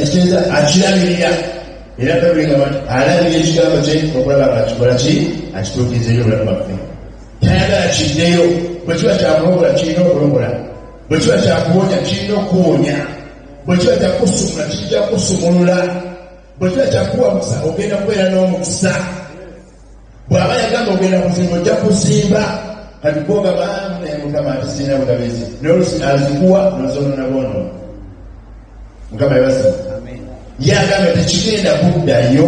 ekiteeza akirabirira era balinga banti alabira ekigambo kye okulaba nga kikola ki akituukizeyo obulamu bwaffe tayagala kiddeyo bwe kiba kyakulobola kirina okulobola bwe kiba kyakuwonya kirina okuwonya bwe kiba kyakusumula kijja kusumulula bwe kiba kyakuwa musa ogenda kubeera n'omukisa bw'aba yagamba ogenda kuzimba ojja kuzimba kati gwogaba naye mukama ati sirina bugabezi nolusi azikuwa nozonona bwono mukama yebasa yagamba tekigenda kuddayo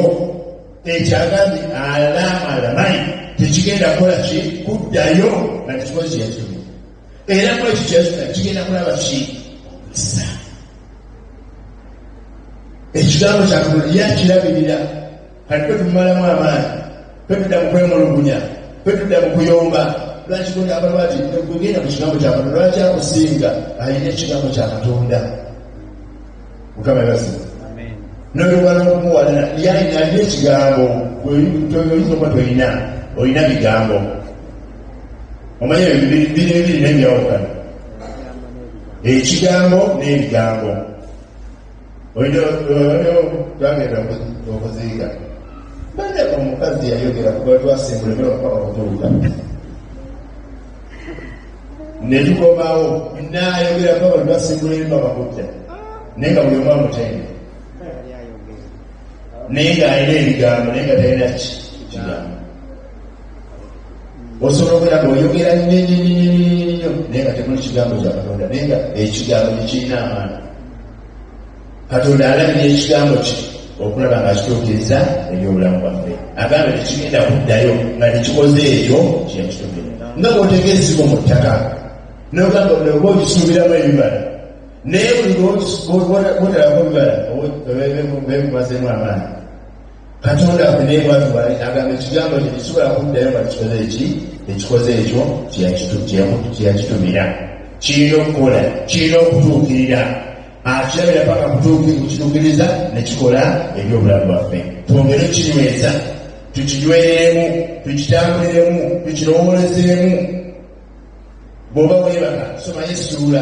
ekyagambye alaama alamayi tekigenda kukola ki kuddayo nga tekikozi yakimu era mu ekyo kyazina kigenda kulaba ki sa ekigambo kyakulya kirabirira kati kwe tumumalamu amaanyi kwe tudda mu kwemulugunya kwe tudda mu kuyomba lwaki gona abalwati negugenda ku kigambo kya katonda lwaki akusinga alina ekigambo kya katonda mukama basi noyogala okumuwalana yalina alina ekigambo oyinza okuba tolina olina bigambo omanyi bino ebiri nebyawukana ekigambo n'ebigambo oyo twagenda okuziika bane omukazi yayogera kubatwasimbule newakaba okutuuka netukomawo nayogera kuba bali basimbula emba bakutta naye nga buli omu amutende naye ng'alina ebigambo naye nga talina ki kigambo osobola okubeera nga oyogera nnyonyonyonyonyonyo naye nga temuli kigambo kya katonda naye nga ekigambo tekirina amaana katonda alabira ekigambo kye okulaba nga kituukiriza ebyobulamu bwaffe agamba tekigenda kuddayo nga tekikoze ekyo kyeyakituukira nga bwoteka ezimu mu ttaka nogamba oba okisuubiramu ebibala naye buli bwotalako bibala bemumazemu amaanyi katonda akunaye mwatu bali agamba ekigambo kye kisobola kuddayo nga kikoze eki ekikoze ekyo kyeyakitumira kirina okukola kirina okutuukirira akirabira paka kutuuki kukituukiriza nekikola ebyobulamu bwaffe twongere okinyweza tukinyweremu tukitambuliremu tukirowoolezeemu bw'oba weebaka soma yesuula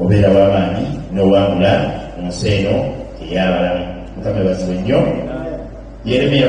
obeera wamaanyi nowangula mu nsi eno eyabalamu mukama ebazibwe nnyo yeremiya